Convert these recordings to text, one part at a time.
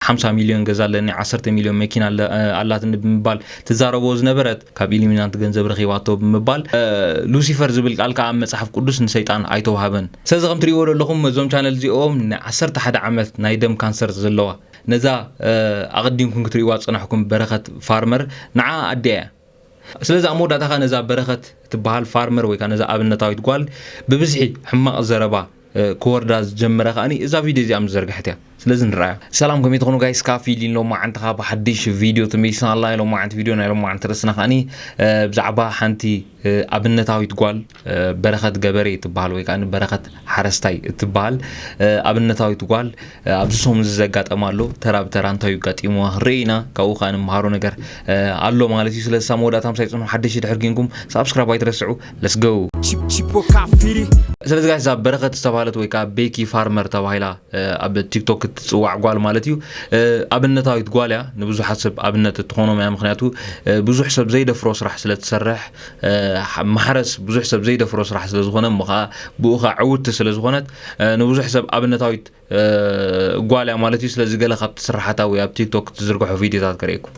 ሓምሳ ሚልዮን ገዛ ኣለኒ፣ ዓሰርተ ሚልዮን መኪና ኣላትኒ ብምባል ትዛረቦ ዝነበረት፣ ካብ ኢሉሚናንት ገንዘብ ረኺባቶ ብምባል ሉሲፈር ዝብል ቃል ከኣ ኣብ መጽሓፍ ቅዱስ ንሰይጣን ኣይተዋህበን። ሰለዚ ከም ትሪእዎ ዘለኹም እዞም ቻነል እዚኦም ን ዓሰርተ ሓደ ዓመት ናይ ደም ካንሰር ዘለዋ ነዛ ኣቐዲምኩም ክትሪእዋ ዝጸናሕኩም በረኸት ፋርመር ንዓኣ ኣዲኣ እያ። ስለዚ ኣብ መወዳእታ ከኣ ነዛ በረኸት እትበሃል ፋርመር ወይ ከኣ ነዛ ኣብነታዊት ጓል ብብዝሒ ሕማቕ ዘረባ ክወርዳ ዝጀመረ ከኣኒ እዛ ቪድዮ እዚኣ ምስ ዘርግሐት እያ። ስለዚ ንርኣያ። ሰላም ከመይ ትኾኑ ጋይስ ካፊ ሊን ሎማዓንቲ ከኣ ብሓድሽ ቪድዮ ተመሊስና ኣላ ሎማዓንቲ ቪድዮ ናይ ሎማዓንቲ ርእስና ከኣኒ ብዛዕባ ሓንቲ ኣብነታዊት ጓል በረኸት ገበሬ እትበሃል ወይ ከዓ በረኸት ሓረስታይ እትበሃል ኣብነታዊት ጓል ኣብዚ ሰሙን እዚ ዘጋጠማ ኣሎ ተራ ብተራ እንታይ እዩ ኣጋጢምዋ ክንርኢ ኢና ካብኡ ከዓ ንምሃሮ ነገር ኣሎ ማለት እዩ ስለዚ ሳብ መወዳእታ ምሳይ ፅንሑ ሓደሽቲ ድሕር ግንኩም ሳብስክራይብ ኣይትረስዑ ለስገው ስለዚ ጋሽ እዛ በረኸት ዝተባሃለት ወይ ከዓ ቤኪ ፋርመር ተባሂላ ኣብ ቲክቶክ እትፅዋዕ ጓል ማለት እዩ ኣብነታዊት ጓል እያ ንብዙሓት ሰብ ኣብነት እትኾኖም እያ ምክንያቱ ብዙሕ ሰብ ዘይደፍሮ ስራሕ ስለትሰርሕ ማሕረስ ብዙሕ ሰብ ዘይደፍሮ ስራሕ ስለ ዝኾነ እሞ ከኣ ብኡ ከኣ ዕውቲ ስለ ዝኾነት ንብዙሕ ሰብ ኣብነታዊት ጓል እያ ማለት እዩ ስለዚ ገለ ካብ ትስራሓታ ወይ ኣብ ቲክቶክ ትዝርግሖ ቪድዮታት ከርእየኩም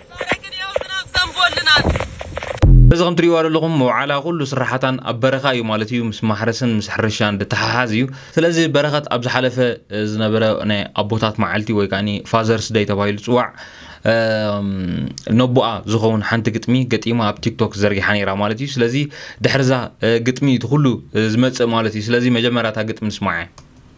ብረግንዮ ዝናብ ዘንቦልናን። እዚ ከምቲ ትሪእዋ ዘለኹም መውዓላ ኩሉ ስራሓታን ኣብ በረኻ እዩ ማለት እዩ ምስ ማሕረስን ምስ ሕርሻን ድተሓሓዝ እዩ ስለዚ በረኸት ኣብ ዝሓለፈ ዝነበረ ናይ ኣቦታት መዓልቲ ወይ ከዓኒ ፋዘርስ ደይ ተባሂሉ ዝጽዋዕ ነቦኣ ዝኸውን ሓንቲ ግጥሚ ገጢማ ኣብ ቲክቶክ ዘርጊሓ ነይራ ማለት እዩ ስለዚ ድሕርዛ ግጥሚ እቲ ኩሉ ዝመጽእ ማለት እዩ ስለዚ መጀመርያ እታ ግጥሚ ንስማዓ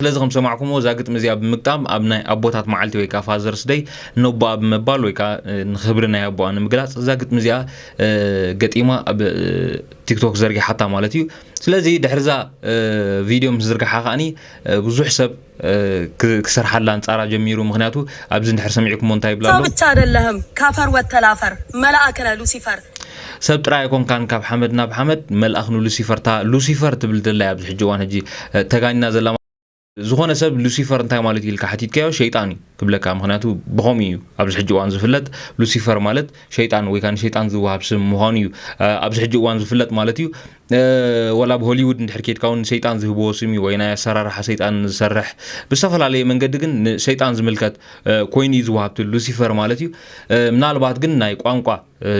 ስለዚ ከም ዝሰማዕኩምዎ እዛ ግጥሚ እዚኣ ብምግጣም ኣብ ናይ ኣቦታት መዓልቲ ወይ ከኣ ፋዘርስ ደይ ነቦኣ ብምባል ወይ ከኣ ንክብሪ ናይ ኣቦኣ ንምግላጽ እዛ ግጥሚ እዚኣ ገጢማ ኣብ ቲክቶክ ዘርጊሓታ ማለት እዩ ስለዚ ድሕርዛ ቪድዮ ምስ ዝርግሓ ከኣኒ ብዙሕ ሰብ ክሰርሓላ ኣንጻራ ጀሚሩ ምክንያቱ ኣብዚ ድሕር ሰሚዕኩሞ እንታይ ይብላ ሰው ኣለዉ ብቻ አይደለህም ካፈር ወተላፈር መላእክ ነህ ሉሲፈር። ሰብ ጥራይ ኣይኮንካን ካብ ሓመድ ናብ ሓመድ መልኣኽ ንሉሲፈር እታ ሉሲፈር ትብል ዘላ ኣብዚ ሕጂ እዋን ሕጂ ተጋኒና ዘላ ዝኾነ ሰብ ሉሲፈር እንታይ ማለት ኢልካ ሓቲትካዮ ሸይጣን እዩ ክብለካ ምክንያቱ ብኸምኡ እዩ ኣብዚ ሕጂ እዋን ዝፍለጥ ሉሲፈር ማለት ሸይጣን ወይ ከዓ ንሸይጣን ዝወሃብ ስም ምዃኑ እዩ ኣብዚ ሕጂ እዋን ዝፍለጥ ማለት እዩ ወላ ኣብ ሆሊውድ እንድሕር ኬድካ እውን ንሰይጣን ዝህብዎ ስም እዩ ወይ ናይ ኣሰራርሓ ሰይጣን ዝሰርሕ ብዝተፈላለየ መንገዲ ግን ንሰይጣን ዝምልከት ኮይኑ እዩ ዝወሃብቲ ሉሲፈር ማለት እዩ ምናልባት ግን ናይ ቋንቋ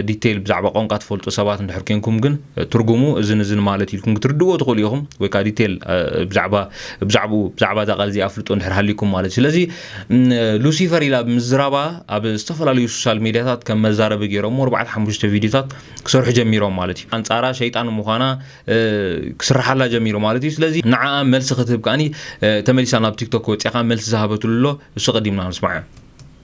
ዲተይል ብዛዕባ ቋንቋ ትፈልጡ ሰባት እንድሕር ኴንኩም ግን ትርጉሙ እዝን እዝን ማለት ኢልኩም ክትርድእዎ ትኽእሉ ኢኹም ወይ ከዓ ዲተይል ብዛዕባ ብዛዕብኡ ብዛዕባ እዛ ቃል እዚኣ ኣፍልጦ እንድሕር ሃልይኩም ማለት እዩ ስለዚ ሉሲፈር ኢላ ብምዝራባ ኣብ ዝተፈላለዩ ሶሻል ሜድያታት ከም መዛረቢ ገይሮሞ ኣርባዕተ ሓሙሽተ ቪድዮታት ክሰርሑ ጀሚሮም ማለት እዩ ኣንጻራ ሸይጣን ምዃና ክስርሓላ ጀሚሩ ማለት እዩ ስለዚ ንዓኣ መልሲ ክትህብ ከዓኒ ተመሊሳ ናብ ቲክቶክ ወጺኣ ከኣ መልሲ ዝሃበትሉ ኣሎ እሱ ቀዲምና ንስማዖ።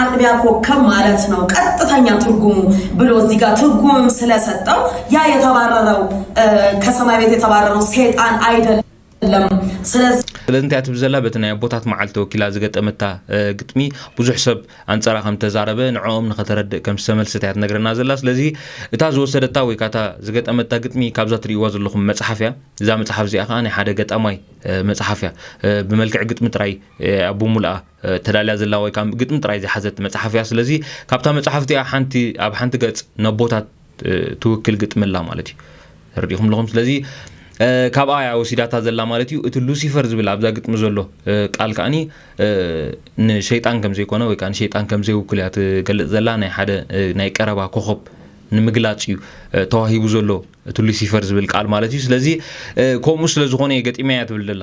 አጥቢያ ኮከብ ማለት ነው ቀጥተኛ ትርጉሙ ብሎ እዚህ ጋር ትርጉምም ስለሰጠው ያ የተባረረው ከሰማይ ቤት የተባረረው ሴጣን አይደለም። ስለዚ ስለዚ እንታይ ትብል ዘላ በቲ ናይ ኣቦታት መዓልቲ ወኪላ ዝገጠመታ ግጥሚ ብዙሕ ሰብ ኣንጻራ ከም ተዛረበ ንዕኦም ንኸተረድእ ከም ዝተመልሰት እያ ትነግረና ዘላ ስለዚ እታ ዝወሰደታ ወይ ካታ ዝገጠመታ ግጥሚ ካብዛ ትርእይዋ ዘለኹም መጽሓፍ እያ እዛ መጽሓፍ እዚኣ ከዓ ናይ ሓደ ገጣማይ መጽሓፍ እያ ብመልክዕ ግጥሚ ጥራይ ኣቦ ሙሉኣ ተዳልያ ዘላ ወይ ከኣ ግጥሚ ጥራይ ዝሓዘት መጽሓፍ እያ። ስለዚ ካብታ መጽሓፍ እዚኣ ሓንቲ ኣብ ሓንቲ ገጽ ነቦታት ትውክል ግጥሚ ኣላ ማለት እዩ። ተረዲእኩም ኣለኹም? ስለዚ ካብኣ እያ ወሲዳታ ዘላ ማለት እዩ። እቲ ሉሲፈር ዝብል ኣብዛ ግጥሚ ዘሎ ቃል ከኣኒ ንሸይጣን ከም ዘይኮነ ወይ ከኣ ንሸይጣን ከም ዘይውክል እያ ትገልጽ ዘላ። ናይ ሓደ ናይ ቀረባ ኮኸብ ንምግላጽ እዩ ተዋሂቡ ዘሎ እቲ ሉሲፈር ዝብል ቃል ማለት እዩ። ስለዚ ከምኡ ስለ ዝኾነ እየ ገጢመያ ትብል ዘላ።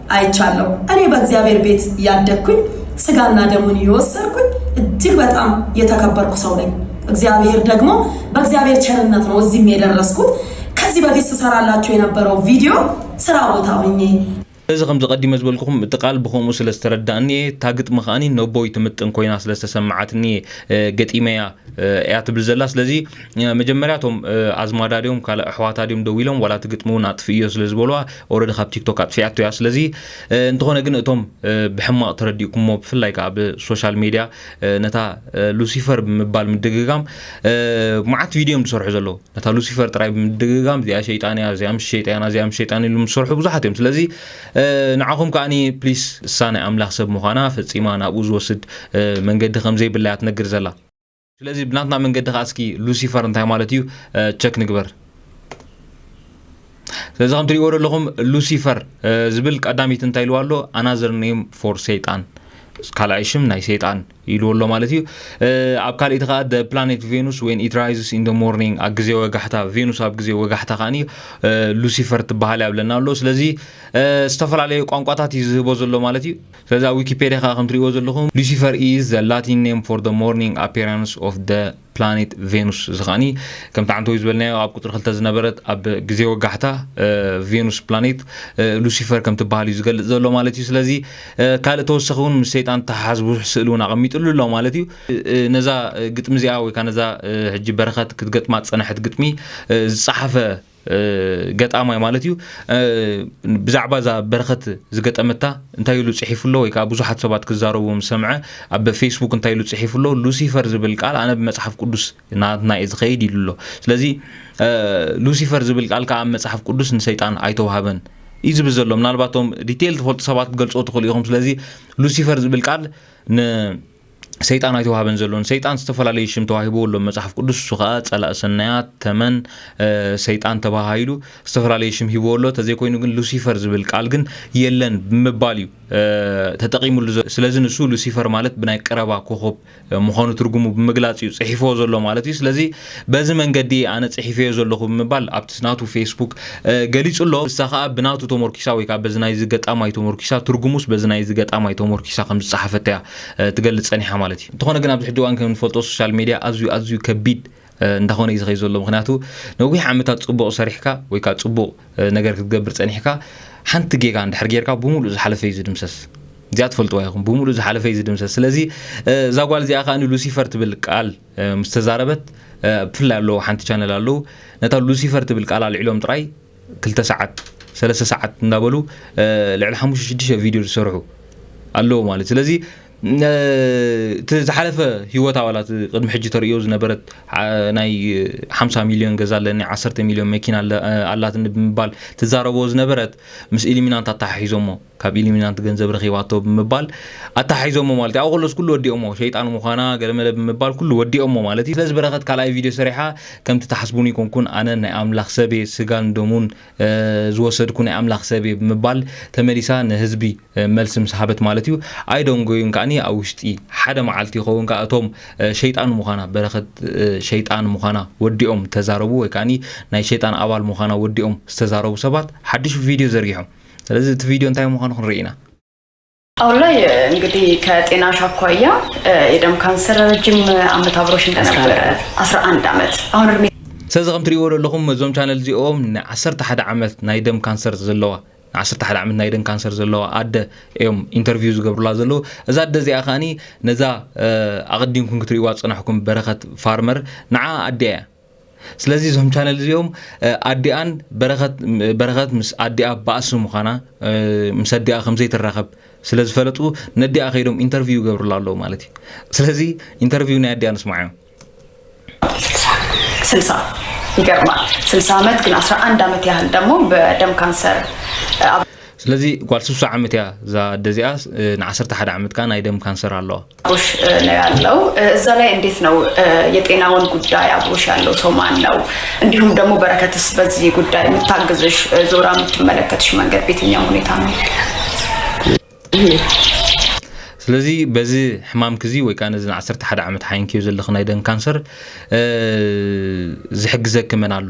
ኣይቻለሁ እኔ በእግዚአብሔር ቤት ያደግኩኝ ስጋና ደሙን እየወሰድኩኝ እጅግ በጣም የተከበርኩ ሰው ነኝ። እግዚአብሔር ደግሞ በእግዚአብሔር ቸርነት ነው እዚህም የደረስኩት። ከዚህ በፊት ስሰራላችሁ የነበረው ቪዲዮ ስራ ቦታ ሆኜ እዚ ከምዚ ቀዲመ ዝበልኩኹም እቲ ቃል ብኸምኡ ስለ ዝተረዳእኒ እየ እታ ግጥሚ ከዓኒ ነቦይ ትምጥን ኮይና ስለ ዝተሰማዓትኒ ገጢመ እያ እያ ትብል ዘላ ስለዚ መጀመርያ እቶም ኣዝማዳ ድዮም ካልእ ኣሕዋታ ድዮም ደው ኢሎም ዋላ እቲ ግጥሚ እውን ኣጥፍእዮ ስለ ዝበልዋ ኦረዲ ካብ ቲክቶክ ኣጥፊኣቶ እያ ስለዚ እንተኾነ ግን እቶም ብሕማቕ ተረዲእኩሞ ብፍላይ ከዓ ብሶሻል ሜድያ ነታ ሉሲፈር ብምባል ምድግጋም መዓት ቪድዮ እዮም ዝሰርሑ ዘለዉ ነታ ሉሲፈር ጥራይ ብምድግጋም እዚኣ ሸይጣን እያ እዚኣ ምስ ሸይጣና እዚኣ ምስ ሸይጣን ኢሉ ዝሰርሑ ብዙሓት እዮም ስለዚ ንዓኹም ከዓኒ ፕሊስ እሳ ናይ ኣምላኽ ሰብ ምዃና ፈፂማ ናብኡ ዝወስድ መንገዲ ከም ዘይብላ እያ ትነግር ዘላ ስለዚ ብናትና መንገዲ ከዓ እስኪ ሉሲፈር እንታይ ማለት እዩ ቸክ ንግበር ስለዚ ከም ትሪእዎ ዘለኹም ሉሲፈር ዝብል ቀዳሚት እንታይ ኢልዋ ኣሎ ኣናዘር ኔም ፎር ሰይጣን ካልኣይ ሽም ናይ ሰይጣን ኢልዎ ኣሎ ማለት እዩ ኣብ ካልእቲ ከዓ ደ ፕላኔት ቬኑስ ወን ኢት ራይዝስ ኢን ደ ሞርኒንግ ኣብ ግዜ ወጋሕታ ቬኑስ ኣብ ግዜ ወጋሕታ ከዓ ሉሲፈር ትበሃል እያ ብለና ኣሎ ስለዚ ዝተፈላለየ ቋንቋታት እዩ ዝህቦ ዘሎ ማለት እዩ ስለዚ ኣብ ዊኪፔድያ ከኣ ከምትርእይዎ ዘለኹም Lucifer is the Latin name for the morning appearance of the planet Venus እዚ ከኣ ከምቲ ዓንተወይ ዝበልናዮ ኣብ ቁጽሪ ክልተ ዝነበረት ኣብ ግዜ ወጋሕታ ቬኑስ ፕላኔት ሉሲፈር ከም ትበሃል እዩ ዝገልጽ ዘሎ ማለት እዩ ስለዚ ካልእ ተወሰኺ እውን ምስ ሰይጣን ተሓሓዝ ብዙሕ ስእሊ እውን ኣቐሚጥሉ ኣሎ ማለት እዩ ነዛ ግጥሚ እዚኣ ወይ ከዓ ነዛ ሕጂ በረኸት ክትገጥማ ዝጸነሐት ግጥሚ ዝጸሓፈ ገጣማይ ማለት እዩ ብዛዕባ እዛ በረኸት ዝገጠመታ እንታይ ኢሉ ጽሒፉ ኣሎ ወይ ከዓ ብዙሓት ሰባት ክዛረቡ ምስ ሰምዐ ኣብ ፌስቡክ እንታይ ኢሉ ጽሒፉ ኣሎ ሉሲፈር ዝብል ቃል ኣነ ብመጽሓፍ ቅዱስ ናትና እዩ ዝኸይድ ኢሉ ኣሎ ስለዚ ሉሲፈር ዝብል ቃል ከዓ ኣብ መጽሓፍ ቅዱስ ንሰይጣን ኣይተዋህበን እዩ ዝብል ዘሎ ምናልባቶም ዲቴይል ትፈልጡ ሰባት ክትገልጾ ትኽእሉ ኢኹም ስለዚ ሉሲፈር ዝብል ቃል ን ሰይጣን ኣይተዋህበን ዘሎ ንሰይጣን ዝተፈላለዩ ሽም ተዋሂቦ ኣሎ መጽሓፍ ቅዱስ እሱ ከዓ ጸላእ ሰናያት ተመን ሰይጣን ተባሃሂሉ ዝተፈላለዩ ሽም ሂቦ ኣሎ ተዘይኮይኑ ግን ሉሲፈር ዝብል ቃል ግን የለን ብምባል እዩ ተጠቂሙሉ ስለዚ ንሱ ሉሲፈር ማለት ብናይ ቀረባ ኮኸብ ምዃኑ ትርጉሙ ብምግላጽ እዩ ጽሒፎ ዘሎ ማለት እዩ ስለዚ በዚ መንገዲ ኣነ ጽሒፈዮ ዘለኹ ብምባል ኣብቲ ናቱ ፌስቡክ ገሊጹ ኣሎ እሳ ከዓ ብናቱ ተሞርኪሳ ወይ ከዓ በዚ ናይዚ ገጣማይ ተሞርኪሳ ትርጉሙስ በዚ ናይዚ ገጣማይ ተሞርኪሳ ከም ዝጸሓፈት እያ ትገልጽ ጸኒሓ ማለት እዩ እንተኾነ ግን ኣብዚ ሕጂ እዋን ከም ንፈልጦ ሶሻል ሜድያ ኣዝዩ ኣዝዩ ከቢድ እንዳኾነ እዩ ዝኸይ ዘሎ ምክንያቱ ነዊሕ ዓመታት ጽቡቕ ሰሪሕካ ወይ ከዓ ጽቡቕ ነገር ክትገብር ጸኒሕካ ሓንቲ ጌጋ እንድሕር ጌርካ ብምሉእ ዝሓለፈ እዩ ዝድምሰስ እዚኣ ትፈልጥዋ ይኹም ብምሉእ ዝሓለፈ እዩ ዝድምሰስ ስለዚ እዛ ጓል እዚኣ ከዓ ንሉሲፈር ትብል ቃል ምስ ተዛረበት ብፍላይ ኣለዉ ሓንቲ ቻነል ኣለዉ ነታ ሉሲፈር ትብል ቃል ኣልዒሎም ጥራይ ክልተ ሰዓት ሰለስተ ሰዓት እንዳበሉ ልዕሊ ሓሙሽተ ሽዱሽተ ቪድዮ ዝሰርሑ ኣለዉ ማለት ስለዚ እቲ ዝሓለፈ ሂወት ኣባላት ቅድሚ ሕጂ ተርእዮ ዝነበረት ናይ ሓምሳ ሚልዮን ገዛ ኣለኒ ዓሰርተ ሚልዮን መኪና ኣላትኒ ብምባል ትዛረቦ ዝነበረት ምስ ኢሊሚናንት ኣተሓሒዞሞ ካብ ኢሊሚናንት ገንዘብ ረኺባቶ ብምባል ኣተሓሒዞሞ ማለት እዩ። ኣብኡ ከሎስ ኩሉ ወዲኦሞ፣ ሸይጣን ምዃና ገለመለ ብምባል ኩሉ ወዲኦሞ ማለት እዩ። ስለዚ በረኸት ካልኣይ ቪድዮ ሰሪሓ ከምቲ ትሓስቡኒ ኣይኮንኩን ኣነ ናይ ኣምላኽ ሰብ እየ ስጋን ደሙን ዝወሰድኩ ናይ ኣምላኽ ሰብ እየ ብምባል ተመሊሳ ንህዝቢ መልሲ ምስ ሃበት ማለት እዩ። ኣይደንጎዩን ከኣኒ ኣብ ውሽጢ ሓደ መዓልቲ ይኸውን ከኣ እቶም ሸይጣን ምዃና በረኸት ሸይጣን ምዃና ወዲኦም ተዛረቡ ወይ ከኣኒ ናይ ሸይጣን ኣባል ምዃና ወዲኦም ዝተዛረቡ ሰባት ሓድሽ ቪድዮ ዘርጊሖም ስለዚ እቲ ቪድዮ እንታይ ምዃኑ ክንርኢ ኢና አሁን ላይ እንግዲህ ከጤናሽ አኳያ የደም ካንሰር ረጅም ዓመት አብሮሽ እንደነበረ 11 ዓመት አሁን እድሜ ስለዚ ከም ትሪእዎ ዘለኹም እዞም ቻነል እዚኦም ን11 ዓመት ናይ ደም ካንሰር ዘለዋ ዓሰርተ ሓደ ዓመት ናይ ደን ካንሰር ዘለዋ ኣደ እዮም ኢንተርቪው ዝገብሩላ ዘለዉ እዛ ኣደ እዚኣ ከዓኒ ነዛ ኣቐዲምኩም ክትሪእዋ ዝፀናሕኩም በረኸት ፋርመር ንዓ ኣዲያ እያ ስለዚ እዞም ቻነል እዚኦም ኣዲኣን በረኸት በረኸት ምስ ኣዲኣ ባእሲ ምዃና ምስ ኣዲኣ ከምዘይ ትራኸብ ስለ ዝፈለጡ ነዲኣ ከይዶም ኢንተርቪው ይገብርላ ኣለዉ ማለት እዩ ስለዚ ኢንተርቪው ናይ ኣዲኣ ንስማዕ እዮም ስልሳ ይገርማል ስልሳ ዓመት ግን ኣስራ አንድ ዓመት ያህል ደግሞ በደም ካንሰር ስለዚ ጓል ስሳ ዓመት እያ እዛ ኣደ እዚኣ ን ዓሰርተ ሓደ ዓመት ከዓ ናይ ደም ካንሰር ኣለዋ ቡሽ ነው ያለው እዛ ላይ እንዴት ነው የጤናውን ጉዳይ አብሮሽ ያለው ሰው ማን ነው? እንዲሁም ደግሞ በረከትስ በዚህ ጉዳይ የምታግዝሽ ዞራ የምትመለከትሽ መንገድ ቤትኛው ሁኔታ ነው? ስለዚ በዚ ሕማምክ እዚ ወይ ከዓ ነዚ ን11 ዓመት ሓይንክዮ ዘለኽ ናይ ደም ካንሰር ዝሕግዘኪ መን ኣሎ?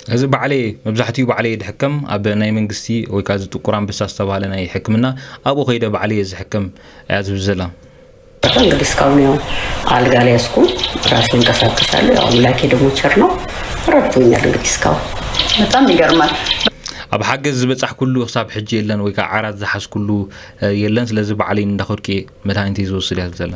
እዚ ባዕለይ እየ መብዛሕቲኡ ባዕለይ እየ ድሕከም ኣብ ናይ መንግስቲ ወይ ከኣ እዚ ጥቁር ኣንበሳ ዝተባህለ ናይ ሕክምና ኣብኡ ከይደ ባዕለይ እየ ዝሕከም እያ ዝብል ዘላ። በጣም እንግዲህ እስካሁን ያው አልጋ ላይ ያስኩ ራሴ እንቀሳቀሳለሁ። ያው አምላኬ ደግሞ ቸር ነው ረድቶኛል። እንግዲህ እስካሁን በጣም ይገርማል። ኣብ ሓገዝ ዝበጻሕኩሉ ክሳብ ሕጂ የለን ወይ ከዓ ዓራት ዝሓዝኩሉ የለን ስለዚ ባዕለይ እንዳኸድኩ እየ መድሃኒተይ ዝወስድ እያ ትብል ዘላ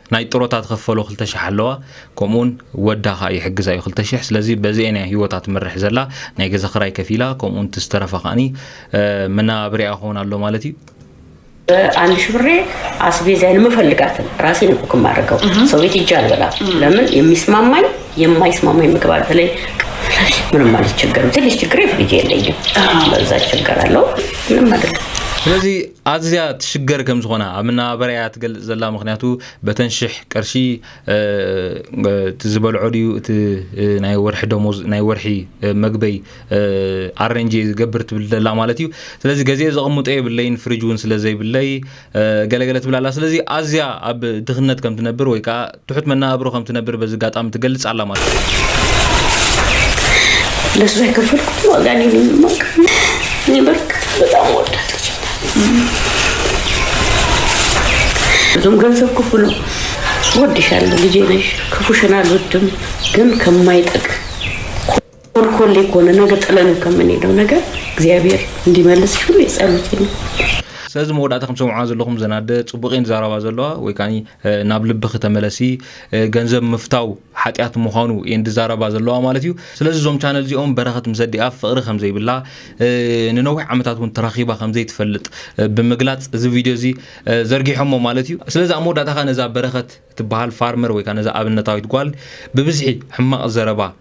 ናይ ጥሮታ ትኽፈሎ ክልተ ሽሕ ኣለዋ ከምኡውን ወዳ ከኣ ይሕግዛ እዩ ክልተ ሽሕ ስለዚ በዚኤን እያ ሂወታ ትመርሕ ዘላ ናይ ገዛ ክራይ ከፊላ ከምኡውን እቲ ዝተረፋ ከኣኒ መነባብሪኣ ክኸውን ኣሎ ማለት እዩ አንድ ሺህ ብሬ አስቤዛዬን የምፈልጋትን ራሴ ነው ኩክ የማደርገው። ሰው ቤት ሂጄ አልበላም። ለምን የሚስማማኝ የማይስማማኝ ምግብ አለ። በተለይ ምንም አልቸገርም። ትንሽ ችግር ፍሪጅ የለኝም፣ በዛ እቸገራለሁ። ምንም አይደለም። ስለዚህ ኣዝያ ትሽገር ከም ዝኾና ኣብ መነባበርያ'ያ ትገልጽ ዘላ፣ ምኽንያቱ በተን ሽሕ ቅርሺ እቲ ዝበልዖ ድዩ እቲ ናይ ወርሒ ደሞዝ ናይ ወርሒ መግበይ ኣረንጅ'የ ዝገብር ትብል ዘላ ማለት እዩ። ስለዚ ገዚኤ ዘቕምጦ የብለይን ፍርጅ ውን ስለ ዘይብለይ ገለ ገለ ትብል ኣላ። ስለዚ ኣዝያ ኣብ ድኽነት ከም ትነብር ወይ ከኣ ትሑት መነባብሮ ከም ትነብር በዚ ኣጋጣሚ ትገልጽ ኣላ ማለት እዩ። ለሱ የከፈልኩት ዋጋ እኔ ምንም አውቃለሁ። እኔ በርግጥ በጣም ወዳት ብዙም ገንዘብ ክፉ ነው። ወድሻለሁ፣ ልጄ ነሽ፣ ክፉሽን አልወድም፣ ግን ከማይጠቅም ኮልኮሌ ኮነ ነገ ጥለነው ከምንሄደው ነገር እግዚኣብሔር እንዲመልስ ሁሌ ጸሎቴ ነው። ስለዚ መወዳእታ ከም ትሰምዑዋ ዘለኹም ዘን ኣደ ጽቡቕ እየን ዝዛረባ ዘለዋ ወይ ከኣ ናብ ልብኺ ተመለሲ ገንዘብ ምፍታው ሓጢኣት ምዃኑ እየን ዝዛረባ ዘለዋ ማለት እዩ ስለዚ እዞም ቻነል እዚኦም በረኸት ምስ ኣዲኣ ፍቕሪ ከም ዘይብላ ንነዊሕ ዓመታት እውን ተራኺባ ከም ዘይትፈልጥ ብምግላጽ እዚ ቪድዮ እዚ ዘርጊሖሞ ማለት እዩ ስለዚ ኣብ መወዳእታ ከ ነዛ በረኸት ትበሃል ፋርመር ወይ ከኣ ነዛ ኣብነታዊት ጓል ብብዝሒ ሕማቕ ዘረባ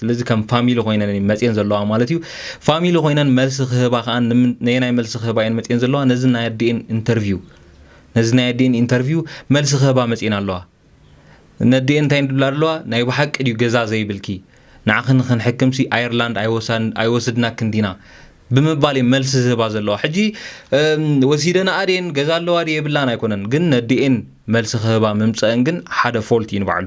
ስለዚ ከም ፋሚሊ ኮይነን እየን መፅየን ዘለዋ ማለት እዩ ፋሚሊ ኮይነን መልሲ ክህባ ከዓ ንምን- ነየናይ መልሲ ክህባ እየን መፅየን ዘለዋ ነዚ ናይ ኣዲኤን ኢንተርቪው ነዚ ናይ ኣዲኤን ኢንተርቪው መልሲ ክህባ መፅየን ኣለዋ ነዲኤን እንታይ ንድብላ ኣለዋ ናይ ብሓቂ ድዩ ገዛ ዘይብልኪ ንዓኺ ንክንሕክምሲ ኣየርላንድ ኣይወሳን- ኣይወስድናክን ዲና ብምባል እየን መልሲ ዝህባ ዘለዋ ሕጂ እም፣ ወሲደናኣ ድየን ገዛ ኣለዋ ድየ የብላን ኣይኮነን ግን ነዲኤን መልሲ ክህባ ምምፀአን ግን ሓደ ፎልት እዩ ንባዕሉ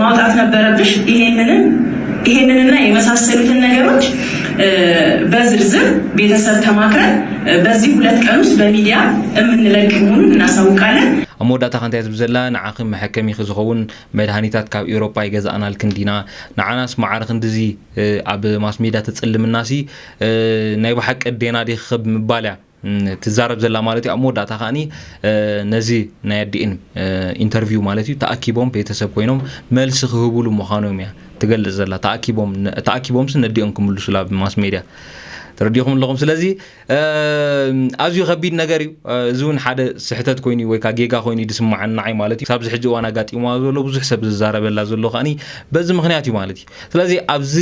ማውጣት ነበረብሽ። ይሄንንም ይሄንንና የመሳሰሉትን ነገሮች በዝርዝር ቤተሰብ ተማክረን በዚህ ሁለት ቀን ውስጥ በሚዲያ የምንለቅ መሆኑን እናሳውቃለን። ኣብ መወዳእታ ከ እንታይ ዝብል ዘላ ንዓኺ መሐከሚኺ ዝኸውን መድሃኒታት ካብ ኤውሮጳ ኣይገዛእናልክን ዲና ንዓናስ መዓረ ክንድዚ ኣብ ማስሜድያ ተጽልምናሲ ናይ ብሓቂ ኣዴና ዲኺ ክብ ምባል እያ ትዛረብ ዘላ ማለት እዩ ኣብ መወዳእታ ከዓኒ ነዚ ናይ ኣዲኤን ኢንተርቪው ማለት እዩ ተኣኪቦም ቤተሰብ ኮይኖም መልሲ ክህብሉ ምዃኖም እያ ትገልጽ ዘላ ተኣኪቦም ተኣኪቦምስ ነዲኦም ክምልሱላ ብማስ ሜድያ ተረዲኹም ኣለኹም ስለዚ ኣዝዩ ከቢድ ነገር እዩ እዚ እውን ሓደ ስሕተት ኮይኑ ወይ ከዓ ጌጋ ኮይኑ ድስማዓኒ ንዓይ ማለት እዩ ካብዚ ሕጂ እዋን ኣጋጢምዋ ዘሎ ብዙሕ ሰብ ዝዛረበላ ዘሎ ከዓኒ በዚ ምክንያት እዩ ማለት እዩ ስለዚ ኣብዚ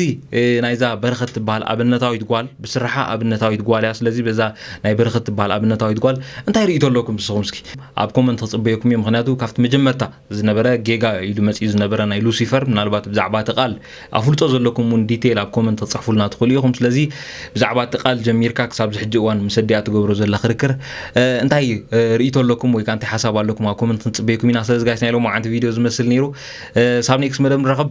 ናይዛ በረኸት ትበሃል ኣብነታዊት ጓል ብስርሓ ኣብነታዊት ጓል እያ ስለዚ በዛ ናይ በረኸት ትበሃል ኣብነታዊት ጓል እንታይ ርእቶ ኣለኩም ንስኹም እስኪ ኣብ ኮመንት ክፅበየኩም እዩ ምክንያቱ ካብቲ መጀመርታ ዝነበረ ጌጋ ኢሉ መፅኡ ዝነበረ ናይ ሉሲፈር ምናልባት ብዛዕባ እቲ ቃል ኣፍልጦ ዘለኩም እውን ዲቴይል ኣብ ኮመንት ክፅሕፉልና ትኽእሉ ኢኹም ስለዚ ብዛዕባ እቲ ቃል ጀሚርካ ክሳብ ዝሕጂ እዋን ምስ ኣዲኣ ትገብሮ ዘላ ክርክር እንታይ ርእቶ ኣለኩም ወይ ከዓ እንታይ ሓሳብ ኣለኩም ኣብ ኮመንት ክንፅበየኩም ኢና ስለዚ ጋይስ ናይ ሎሚ ዓንቲ ቪድዮ ዝመስል ነይሩ ሳብ ኔክስ መደብ ንራኸብ